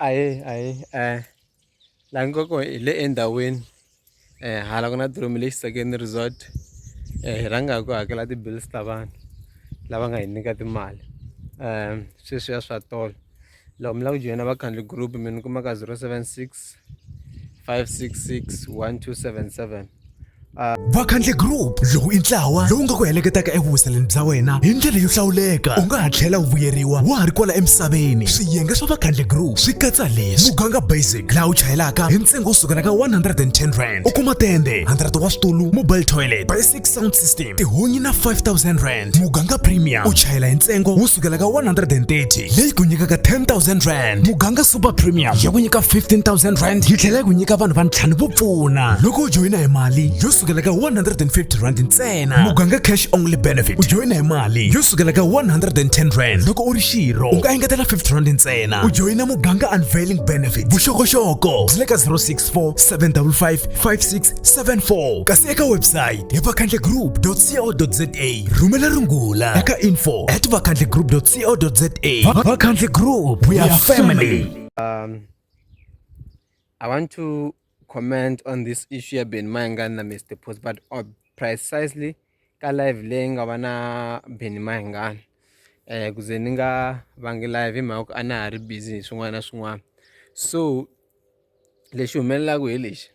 ahee ahee um laha nga kona hi le endhawini um hala ku na diromi leyi xisakeni resort um hi rhanga hi ku hakela ti-bills ta vanhu lava nga hi nyika timali um sweswiya swa tolo loko mi lava ku joyina vakhandli group mi ni kumaka zero seven six 566 Uh, vakhandle group lowu i ntlawa lowu nga ku heleketaka evuhuseleni bya wena hi ndlela yo hlawuleka u nga ha tlhela u vuyeriwa wa ha ri kwala emisaveni swiyenge swa vakhandle group swi katsa leswi muganga basic laha u chayelaka hi ntsengo wo sukela ka 110 rand u kuma tende 100 wa switulu mobile toilet sound system tihunyi na 5000 rand muganga premium u chayela hi ntsengo wo sukela ka 130 leyi ku nyikaka 10000 rand muganga super premium ya ku nyika 15000 rand yi tlhela yi ku nyika vanhu va ntlhanu vo pfuna loko u joyina hi mali yo sukela ka 150 rand ntsena muganga cash only benefit u joyina hi mali yo sukela ka 110 rand loko u ri xirho u nga engetela 50 rand ntsena u joyina muganga unveiling benefit vuxokoxoko byi le ka 064 755 56 74 kasi eka website hi vakhandlegroup.co.za rhumela rungula eka info at vakhandlegroup.co.za vakhandle group we are family um, i want to comment on this issue ya ben mayangani na mr post but uh, precisely ka live leyi nga va na Benny Mayengani eh ku ze ni nga vangi live hi mhaka ku a na ha ri busy hi swin'wana na swin'wana so lexi humelelaka hi lexi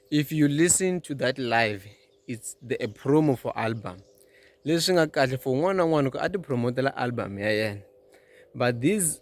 if you listen to that live it's the a promo for album leswi nga kahle for un'wana na un'wana ku a ti promote-ela album ya yena but these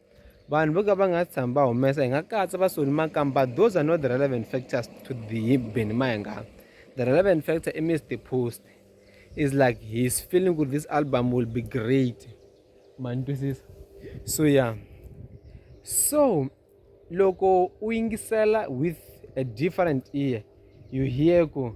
Vanhu vo ka va nga si tshama va humesa hi nga katsa vasoni makamba those are not the relevant factors to the Benny Mayenga. The relevant factor is Mr. Post is like his feeling with this album will be great. Man, this is so yeah. So loko u yingisela with a different ear you hear ku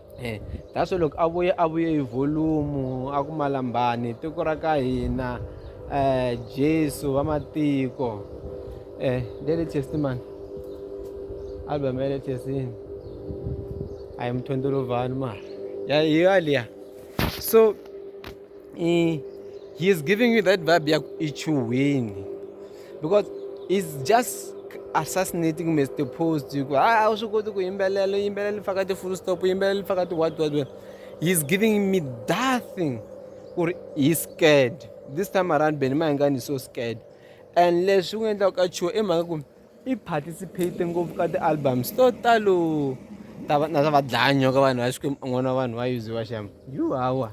Eh, that's loko a vuye a vuye hi volume a ku malambani tiko ra ka hina eh Jesu wa matiko eh the latest man album ya latest yini ayi mthondolovani ma ya hiyo aliya so he is giving you that vibe ya ichuhwini because is just assassinating mr post you a ah, swi koti ku yimbelela yimbelela faka ti-full stop yimbelela faka ti-what what what he is giving me that thing or he is scared this time around beni mahingani so scared and leswi u nga endlaka ka chuo i mhaka ku i participate ngopfu ka ti-albums to talo na ta va dlaya nyoka vanhu va xikwembu un'wana wa vanhu va yuziwa xama yu hawa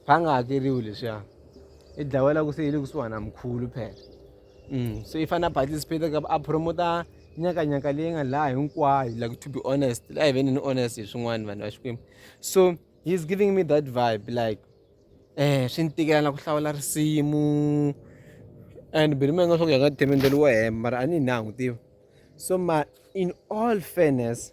va nga hakeriwi leswiya i dlawela ku se yi le kusuhana mkhulu phela mm, so i fanele a participate ka a promota nyakanyaka leyi nga laha hinkwayo like to be honest la hi veni ni honest hi swin'wana vanhu va xikwembu so he is giving me that vibe like um swi ni tikela na ku hlawula risimu and beli mi nga swa ku ya ka themendeli wo hemba mara a ni hi na n'wi tiva so ma in all fairness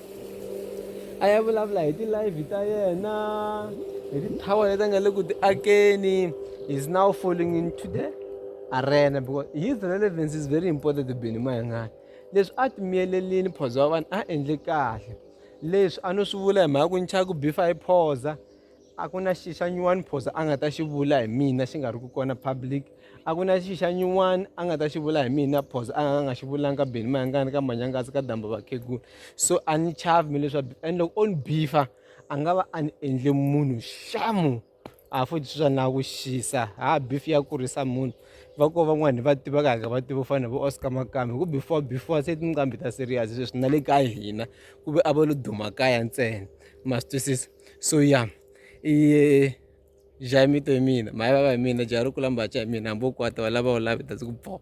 a ya vulavula hi ti-live ta yena hi ti-tower leti a nga le ku ti akeni is now falling into the arena because his relevance is very important to beni mayangani leswi a ti miyelelini phoza wa vanhu a endle kahle leswi a no swi vula hi mhaka ku nchaku bifa hi phoza a ku na xi xa nyuwani phosa a nga ta xi vula hi mina xi nga ri ku kona public a ku na xi xa nyuwani a nga ta xi vula hi mina phosa a nga nga xi vulanga ka beni mayangani ka manyangasi ka damba vakhegula so a ni chavi mi leswa and loko o ni bifa a nga va a ni endle munhu xamu a futhi swa na ku xisa ha bifi ya kurisa munhu va ko van'wani va tivaka haka va tiva fana vo oscar makambe ku before before se tinqambi ta serious sweswi na le ka hina ku ve a va lo duma kaya ntsena ma swi twisisa so ya i jaha mito hi mina mhani vava hi mina jaha ri kula mbaca hi mina hambi wo kwata why lava u love it that's ku boh.